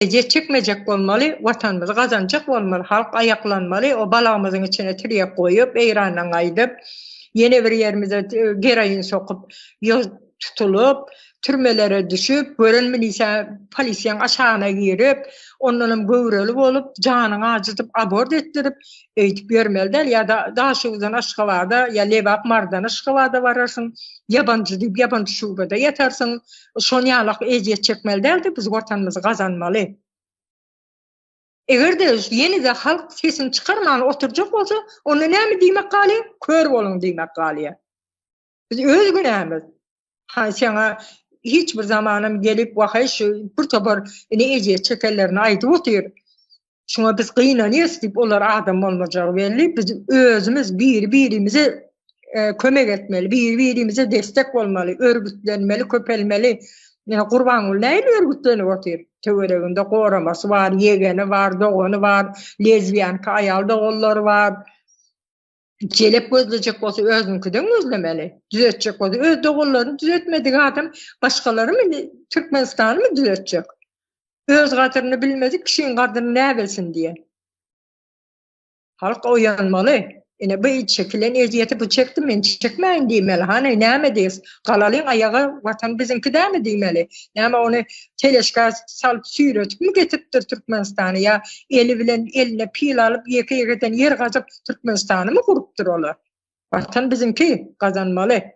Ejir çekmejek bolmaly, Watanymyzy gazanjak bolmaly, halk aýaklanmaly, o balagymyzyň içine tirýek goýup, Eýrandan gaýdyp, ýene bir ýerimize geroin sokup, ýol tutulyp, türmelere düşüp, gören milisiýa, polisiýaň aşagyna girip, ondanam göwreli bolup, janyňy ajydyp, abort etdirip, öýdüp ýörmeli däl. Ýa Daşoguzdan Aşgabada, ýa Lebap, Mardan Aşgabada bararsyň, ýabanjy diýip, ýabanjy şubada ýatarsyň. şon ýalak ezýet çekmeli däldi biz watanymyzy gazanmaly egerde ýenede halk sesini çykarman oturjak bolsa onda näme diýmek galy kör boluň diýmek galýa biz öz günämiz ha şaňa hiç bir zamanam gelip wahaý şu bir topar ine ezýet çekenlerini aýdyp otyr Şuna biz gynanyýas diýip olar adam bolmajak belli. Biz özümiz biri-birimize e, kömek etmeli, biri-birimize destek bolmaly, örgütlenmeli, köpelmeli. Ýa Gurbanguly näme örgütlenip otyr? Töwereginde goramasy bar, ýegeni bar, dogany bar, lezbiýanka aýal doganlary bar. Jelep gözlejek bolsa özüňkiden gözlemeli. Düzetjek bolsa öz doganlaryny düzetmedik adam başgalary mı Türkmenistany mı düzetjek? Öz gadryny bilmedik kişiň gadryny ne bilsin diye. Halk oyanmaly. Ine bu çekilen eziyeti bu çekdi men çekmeyin diymeli. Hani neme deyiz? Galalin ayaga vatan bizinki de mi diymeli? Neme onu teleşka sal süyretip mi getiriptir Türkmenistan'a ya eli bilen eline pil alıp yeke yekeden yer gazıp Türkmenistanymy gurupdyr olar. Watan biziňki, gazanmaly.